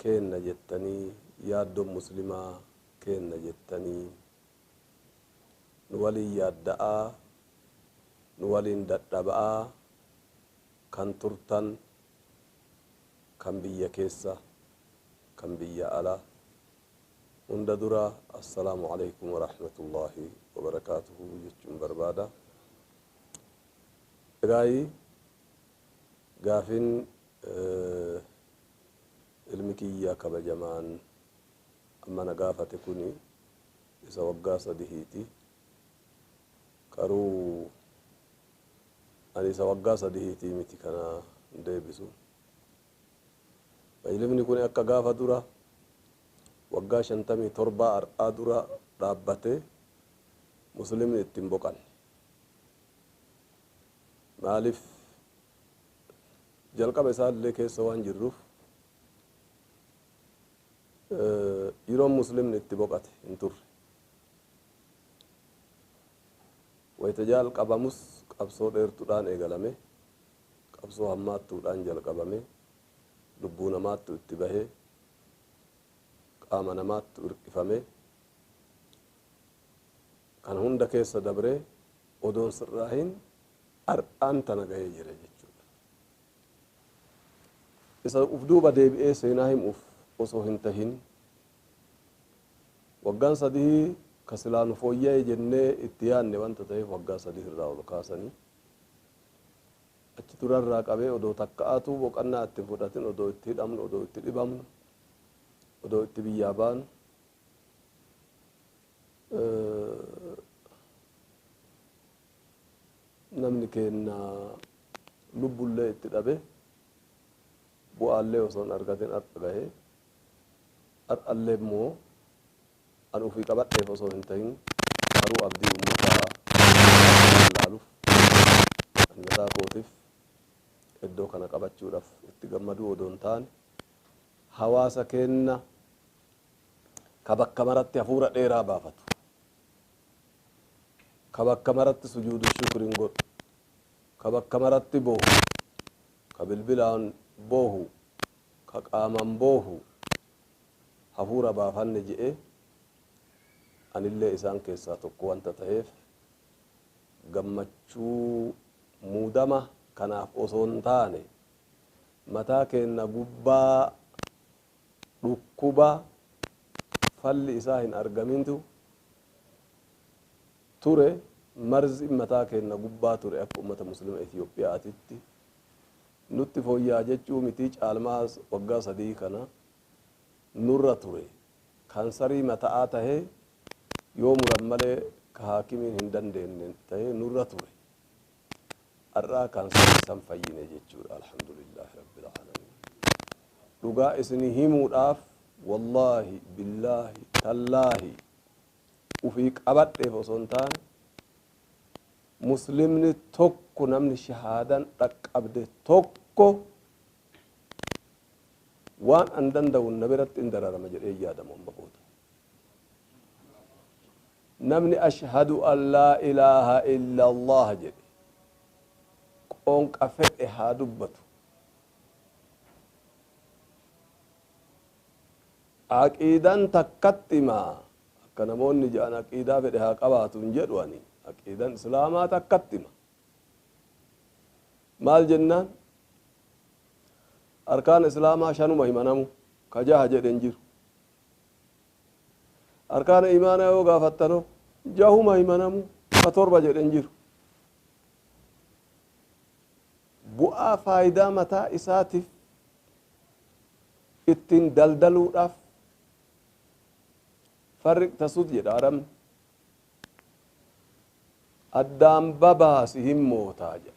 keenna jettanii yaaddoon muslimaa keenna jettanii nu waliin yaadda'aa nu waliin dadhaba'aa kan turtan kan biyya keessa kan biyya ala hunda dura assalaamu aleykum warahmatullaahi wabarakaatuhu jechuun barbaada. Egaayii gaafiin Ilmi kiyya kabajamaan amma na gaafate kuni isa waggaa sadihiiti. Garuu ani isa waggaa sadihiitii miti kana hin deebisu. Ilmni kuni akka gaafa dura waggaa shantamii torbaa har'aa dura dhaabbatee Muslimni itti hin boqanne. Maaliif jalqaba isaa illee keessa waan jirruuf yeroon muslimni itti boqate hin turre. Wayita jalqabamus qabsoo dheertuudhaan eegalame, qabsoo hammaattuudhaan jalqabame, lubbuu namaattu itti bahe, qaama namaattu irqifame, kana hunda keessa dabree odoon sirraahin Har'aan tana gahee jira jechuudha. Isa uf duuba deebi'ee seenaa himuuf osoo hin tahin, waggaan sadii ka silaa nu fooyya'e jennee itti yaanne wanta taheef waggaa sadii irraa ol kaasanii, achi ture irraa qabee odoo takka'aatuu boqannaa itti hin fudhatin odoo itti hidhamnu, odoo itti dhibamnu, odoo itti biyyaa baanu, Namni keenna lubbullee itti dhabe, bu'aallee osoo hin argatin har'a gahe. Har'allee immoo an ufii qabadheef osoo hin tahin maruu abdii ummataa waan laaluuf ani mataa kootiif eddoo kana qabachuudhaaf itti gammaduu odoo hin taane hawaasa keenna ka bakka maratti hafuura dheeraa baafatu, ka bakka maratti sujuudu shukrin godhu, ka bakka maratti boohu, ka bilbilaan boohu, ka qaamaan boohu, hafuura baafanne je'e, anillee isaan keessaa tokko wanta taheef, gammachuu muudama kanaaf osoo hin taane, mataa keenna gubbaa Dhukkuba falli isaa hin argamintu ture, marziin mataa keenna gubbaa ture akka ummata Muslima Ethiopia'aatitti. Nutti fooyya'a jechuu mitii caalmaas waggaa sadii kana nurra ture. Kansarii mata'aa tahee yoo muran malee ka haakimiin hin dandeenne tahee nurra ture. Ar'aa kaansarii san fayyine jechuudha alhamdulillah rabbil aalamiin. Dhugaa isinii himuudhaaf wallaahi billaahi tallaahi ufii qabadheef osoo hin taane muslimni tokko namni shahaadan dhaqqabde tokko waan an danda'u na biratti in dararama jedhee yaadamu amma booda. Namni Ashhadu an laa ilaaha illaallaah jedhe qoonqa fedhe haa dubbatu, Aqiidan takkattima, akka namoonni jedhan aqiidaa fedhe haa qabaatu hin jedhu ani, aqiidan Islaamaa takkattima. Maal jennaan? Arkaan Islaamaa shanuma hima namuu, ka jaha jedhe hin jiru. Arkaana iimaanaa yoo gaafattanoo? Jahuma himanamu ka torba jedhe hin jiru. Bu'aa faayidaa mataa isaatiif ittiin daldaluudhaaf farriq tasud jedha Arabni. Addaan babaasi hin mootaa jedha.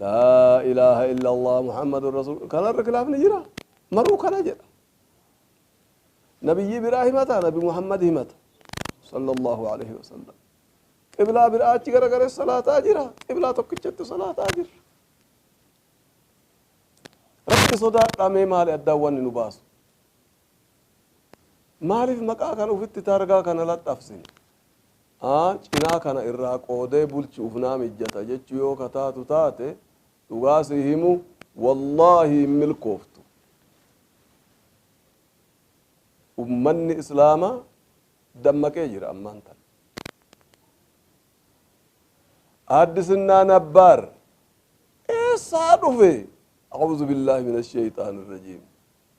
Laa ilaaha illallah Muhammadun Rasuul kanarra kilaafni jira maruu kana jedha nabiyyii biraa himata nabi Muhammad himata sallallahu alaihi wasallam qiblaa biraa achi garagalee salaataa jira qiblaa tokkichatti salaataa jira rabbi sodaadhaa mee maali addaan wanni nu baasu Maaliif maqaa kana ufitti taargaa kana laxxafsine? a. Cinaa kana irraa qoodee bulchuuf naa mijjata jechuu yoo ka taatu taate, dhugaa sii himu, wallaahi hin milkooftu. Ummanni Islaamaa dammaqee jira ammaan tana. Aaddisinnaa Nabbaar eessaa dhufe? A'uuzu billaahi mina sheyxaani rajiim.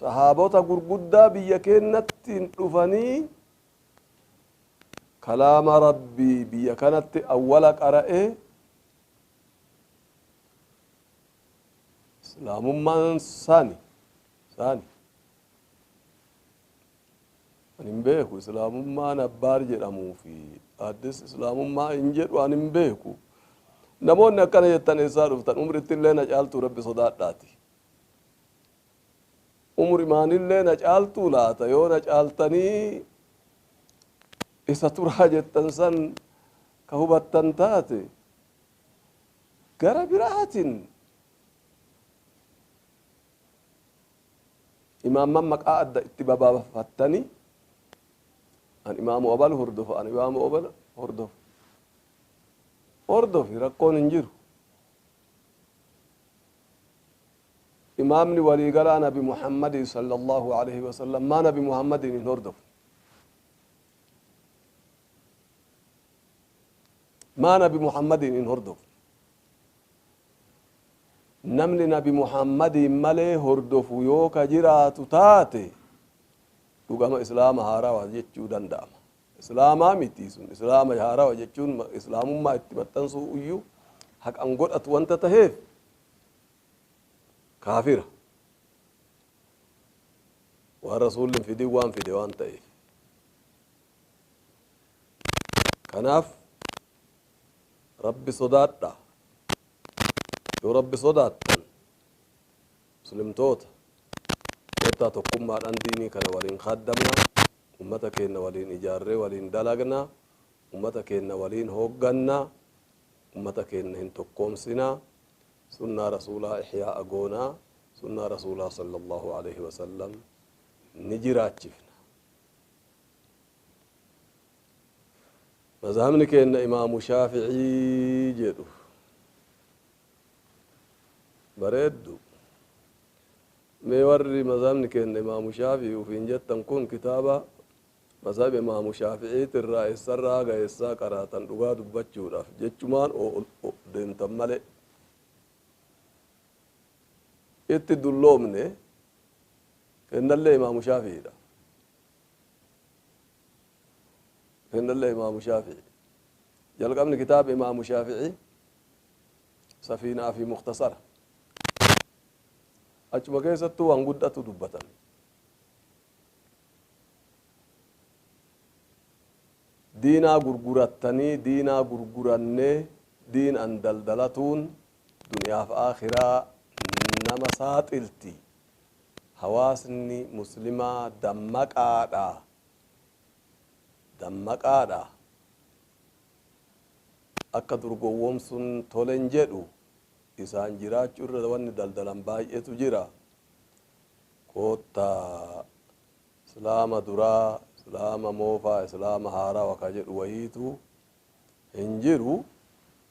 Sahaabota gurguddaa biyya keennatti dhufanii kalaama Rabbii biyya kanatti awwala qara'ee Islaamummaan saani saani. Ani hin beeku islaamummaan abbaar jedhamuu fi addis islaamummaa hin jedhu ani hin beeku. Namoonni akkana jettan eessaa dhuftan umritti illee na caaltuu rabbi sodaadhaati. Umrimaan illee na caaltuu laata yoo na caaltanii isa turaa jettan san ka hubattan taate gara biraatin Imaamman maqaa adda itti babaafattanii an imaamu abal hordofa an imaamu abal hordofa hordofi rakkoon hin jiru imaamni waliigalaa nabi muhammadii sala allahu alaihi wasalam maa nabi muhammadiin hin hordofu maa nabi muhammadiin hin hordofu Namni nabi Muhammadiin malee hordofu yoo ka jiraatu taate dhugama islaama haarawa jechuu danda'ama. Islaama miti sun islaama haarawa jechuun islaamummaa itti maxxansuu iyyuu haqan godhatu wanta taheef kaafira. Waan rasuulli hin fidin waan fide waan ta'eef. Kanaaf rabbi sodaadha. Yoo Rabbi sodaattan, Muslimtoota, kottaa tokkummaadhaan diinii kana waliin khaaddamnaa, ummata keenna waliin ijaarree waliin dalagnaa, ummata keenna waliin hooggannaa, ummata keenna hin tokkoomsinaa, sunnaa Rasuulaa ihyaa'a goonaa, sunnaa Rasuulaa sallallaahu aleeyhi wasallam ni jiraachifna. Mazhabni keenna Imaamu Shaafi'ii jedhu. Bareeddu. Mee warri mazhabni keenna Imaamu Shaafi'ii ufiin jettan kun kitaaba mazhaba Imaamu Shaafi'iiti irraa eessarraa haga eessaa qaraatan dhugaa dubbachuudhaaf jechumaan deemtan malee. Itti dulloomne keennallee Imaamu Shaafi'iidha. Hennallee Imaamu Shaafi'i. Jalqabni kitaaba Imaamu Shaafi'i Safiina'aa fi Mukhtasara. Achuma keessattuu waan guddatu dubbatame. Diinaa gurgurattanii diinaa gurgurannee diinaan daldalatuun duniyaaf aakhiraa nama saaxilti Hawaasni muslimaa dammaqaa dha! Dammaqaa dha! Akka dur gowwomsuun tole hin jedhu. Isaan jiraachuu irra wanni daldalan baay'eetu jira. Koottaa Islaama duraa, Islaama moofaa, Islaama haarawa ka jedhu wayiitu hin jiru.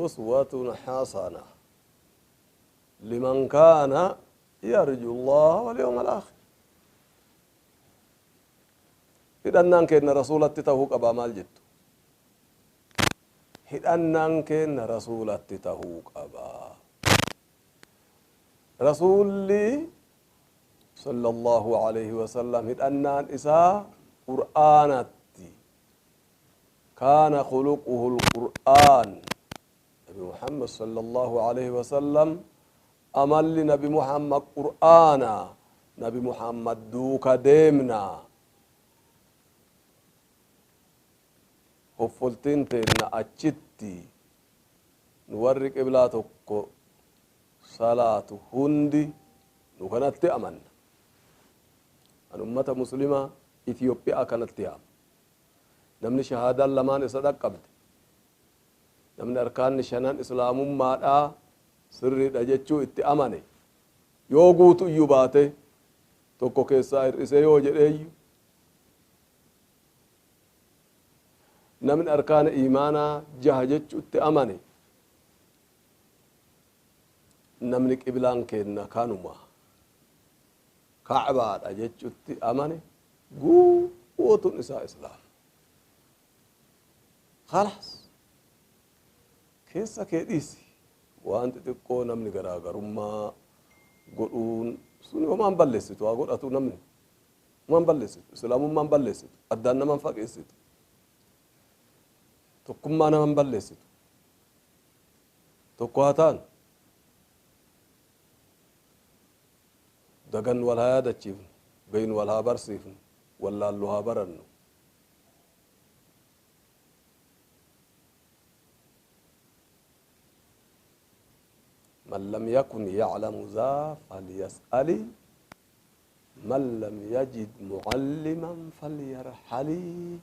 uswatun hasana liman kaana yarju llaha walyawma alaakhir hidhannaan keenna rasuulatti tahuu qabaa maal jettu hidhannaan keenna rasuulatti tahuu qabaa rasuulli sallallahu alayhi wasallam hidhannaan isaa qur'aanatti Kaana khuluquhul Qur'aan, Nabi Muhammad sallallaahu aleyhi wa sallam amalli Nabi Muhammad Qur'aana, Nabi Muhammad duuka deemna, hoffoltiin teenna achitti, nu warri qiblaa tokko salaatu hundi nu kanatti amanna. An ummata muslimaa Ethiopia kanatti yaama. Namni shahaadaan lamaan isa dhaqqabde, namni arkaanni shanan Islaamummaadhaa sirriidha jechuu itti amane, yoo guutuyyuu baate, tokko keessaa hir'isee yoo jedheeyyu, namni arkaana iimaanaa jaha jechuutti amane, namni qiblaan keenna kanuma. Ka'baa dha jechutti amane guutuun isaa islaama. Khalaas keessa kee dhiisi waan xixiqqoo namni garaagarummaa godhuun sun homaan balleessitu haa godhatu namni homaan balleessitu islaamummaan balleessitu addaan naman fageessitu tokkummaa naman balleessitu tokko haa taanu Dagannu wal haa yaadachiifnu, beeknu wal haa barsiifnu, wallaallu haa barannu. Man lam yakun ya'lamu zaa falyas'ali man lam yajid mu'alliman falyarhali.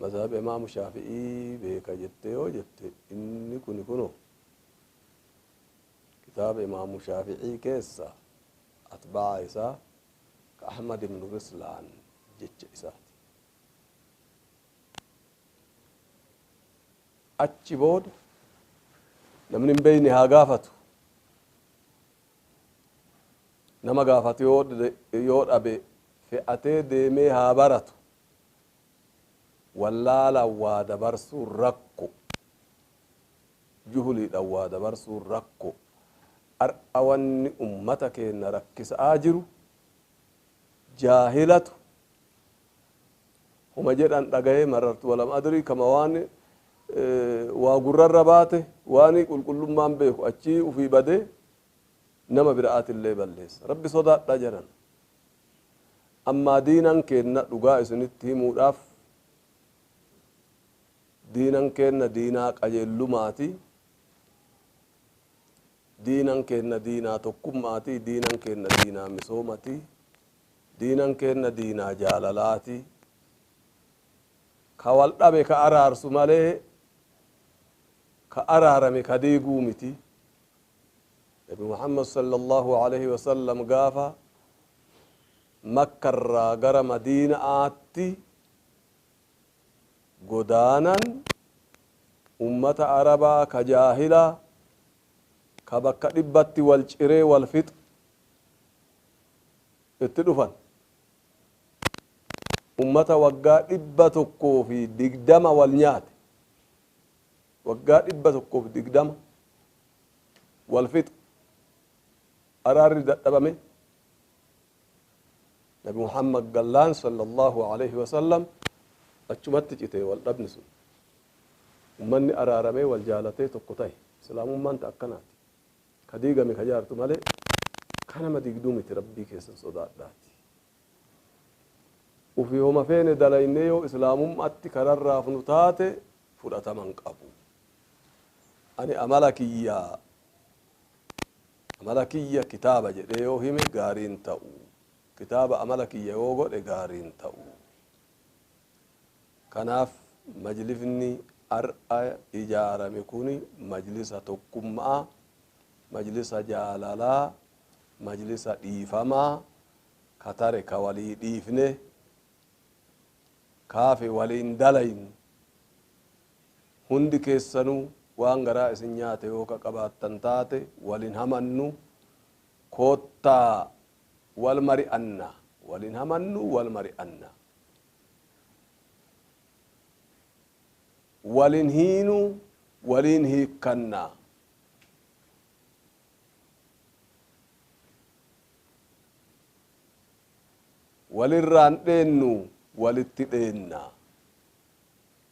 Mazhaba Imaam Shaafi'ii beeka jettee yoo jette inni kuni kunoo Kitaaba Imaamu Shaafi'ii keessa atba'aa isaa ka Ahmad ibnu Rislaan jecha isaati. Achi booda namni hin beeyne haa gaafatu. Nama gaafatu yoo dhabe fe'atee deemee haa baratu. Wallaalaan waa dabarsuun rakko. juhuliidhan waa dabarsuun rakko. Har'a wanni ummata keenna rakkisa'aa jiru jaahilatu homa jedhan dhagayee marartu walam adrii kama waan waa gurrarra baate waanii qulqullummaan beeku achii ufii badee nama bira'aatillee balleessa. Rabbi sodaadha janan. Ammaa diinan keenna dhugaa isinitti himuudhaaf Diinan keenna diinaa qajeellumaati, diinan keenna diinaa tokkummaati, diinan keenna diinaa misoomati, diinan keenna diinaa jaalalaati. Ka wal dhabe ka araarsu malee ka araarame ka diiguu miti. Nabi Muhammad sallallahu aleyhi wa sallam gaafa Makka irraa gara Madiina'aatti godaanan ummata arabaa ka jaahilaa ka bakka dhibbatti wal ciree wal fixu itti dhufan ummata waggaa dhibba tokkoo fi digdama wal nyaate waggaa dhibba tokkoo fi digdama wal fixu araarri dadhabame Nabi Muhammad gallaan sallallahu alaihi wasallam achumatti cite wal dhabni sun. Ummanni araaramee wal jaalatee tokko tahe. Islaamummaan ta akkanaati. Ka diigame ka jaartu malee ka nama diigduu miti Rabbii keessan sodaadhaati. Ufi homa feene dalaynee yoo Islaamummaatti ka rarraafnu taate fudhatama hin qabu. Ani amala kiyya Amala kiyya kitaaba jedhee yoo hime gaarii hin ta'u. Kitaaba amala kiyya yoo godhe gaarii hin ta'u. Kanaaf majlisni har'a ijaarame kun majlisa tokkummaa, majlisa jaalalaa, majlisa dhiifamaa, ka tare ka walii dhiifne, ka hafe waliin dalaynu, Hundi keessanuu waan garaa isin nyaate yoo ka qabaattan taate wal hin hamannu, koottaa wal mari'anna, wal hin hamannu, wal mari'anna. Wal hin hiinu, waliin hiikkanna. Wal irraa hin dheennu, walitti dheenna.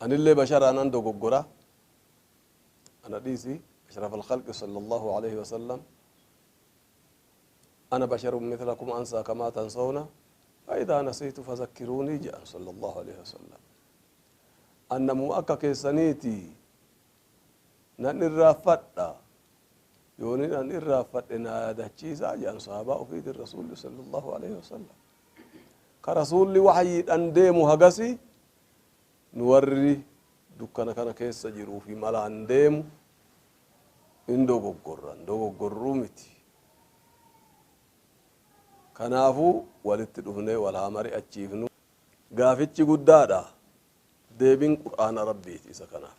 Anillee basharaa nan dogoggora ana dhiisi ashraf alkhalqi sallallahu alayhi wasallam ana basharun mithlakum ansaa kamaa tansawna faidaa nasiitu fazakkiruunii jedhan sallallahu alayhi wasallam an namuma akka keessaniiti nan irraanfadha yoonin an irraanfadhe naa yaadachiisaa jedhan sahaabaa ufiitin rasuulli sallallahu alayhi wasallam Ka Rasuulli wahyiidhan deemu hagasi nu warri dukkana kana keessa jiruu fi malaan deemu hin dogoggorra, hin dogoggorru miti. Kanaafu walitti dhufnee wal haa mari'achiifnu. Gaafichi guddaadha. Deebin Qur'aana Rabbiiti isa kanaaf.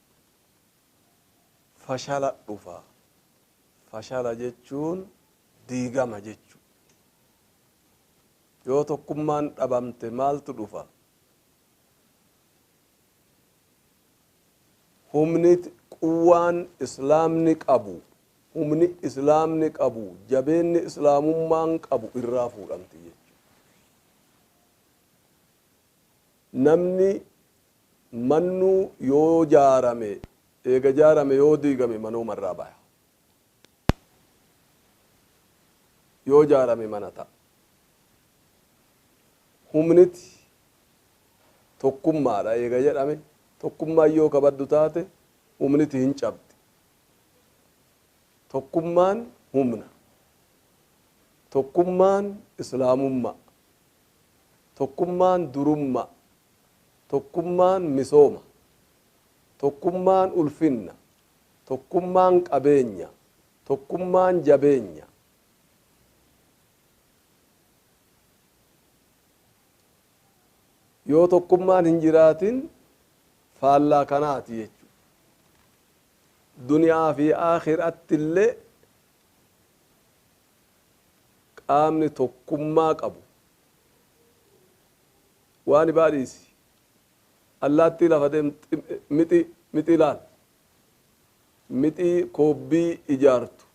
fashala dhufa. Fashala jechuun diigama jechu. Yoo tokkummaan dhabamte maaltu dhufa? Humni quwwaan Islaamni qabu, humni Islaamni qabu, jabeenni Islaamummaan qabu irraa fuudhamti jechu. Namni Mannuu yoo jaarame eega jaarame yoo diigame manooma irraa baya. Yoo jaarame mana ta'a. Humniti tokkummaadha eega jedhame tokkummaan yoo ka baddu taate humniti hin cabdi. Tokkummaan humna. Tokkummaan Islaamummaa. Tokkummaan durummaa. Tokkummaan misooma. Tokkummaan ulfinna. Tokkummaan qabeenya. Tokkummaan jabeenya. Yoo tokkummaan hin jiraatin faallaa kanaati jechuudha. Duniyaa fi aakhiratti illee qaamni tokkummaa qabu. Waa nibaa dhiisi. Allaattii lafa deemtu mixii mixii laal. Mixii koobbii ijaartu.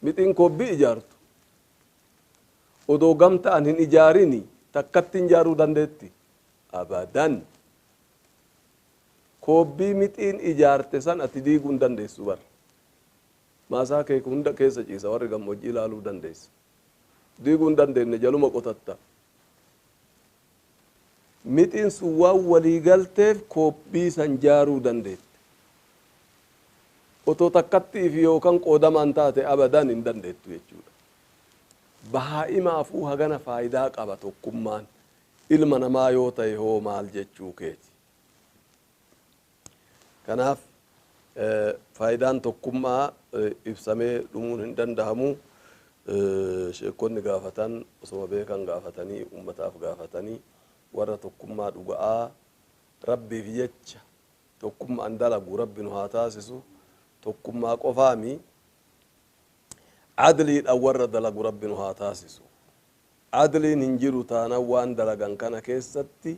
Mixiin koobbii ijaartu odoo gamta'an hin ijaarini takkattiin ijaaruu dandeetti? Abadan. Koobbii mixiin ijaarte san ati diiguu hin dandeessu bar. Maasaa kee hunda keessa ciisa warri gammoojjii ilaaluu dandeessa. diiguu hin dandeenne jaluma qotatta. Mixiin sun waan walii galteef koobbii san jaaruu dandeette. Otoo takkatti'iif yookan qoodamaan taate abadan hin dandeettu jechuudha. Bahaa'imaafuu hagana faayidaa qaba tokkummaan. Ilma namaa yoo ta'e hoo maal jechuu keeti? Kanaaf faayidaan tokkummaa ibsamee dhumuun hin dandahamu. Sheekkonni gaafatan osoma beekan gaafatanii ummataaf gaafatanii warra tokkummaa dhuga'aa Rabbiif jecha tokkumma'an dalagu Rabbi nu haa taasisu. Tokkummaa qofaa mi adliidhan warra dalagu Rabbi nu haa taasisu. Adliin hin jiru taanan waan dalagan kana keessatti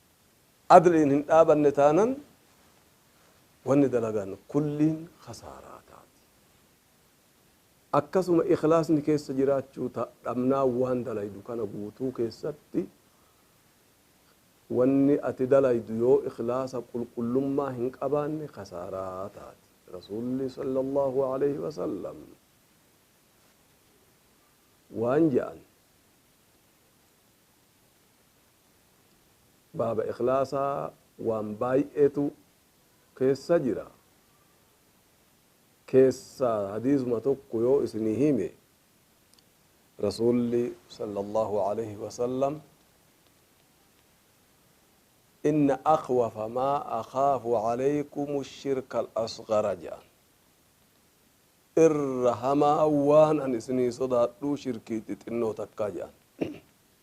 Adliin hin dhaabanne taanan wanni dalagan kulliin khasaaraa taati. Akkasuma ikhlaasni keessa jiraachuu ta, dhabnaan waan dalaydu kana guutuu keessatti wanni ati dalaydu yoo ikhlaasa qulqullummaa hin qabaanne khasaaraa taati. Rasuulli sallallahu aleyhi wa sallam waan ja'an. Baaba ikhlaasaa waan baay'eetu keessa jira. Keessaa hadiisuma tokko yoo isinii hime Rasuulli sallallahu alayhi wa sallam inna akhwafa maa akhaafu alaykumu shirka al-asghara jedhan. Irra hamaa waan an isinii sodaadhu shirkii xixinnoo takkaa jedhan.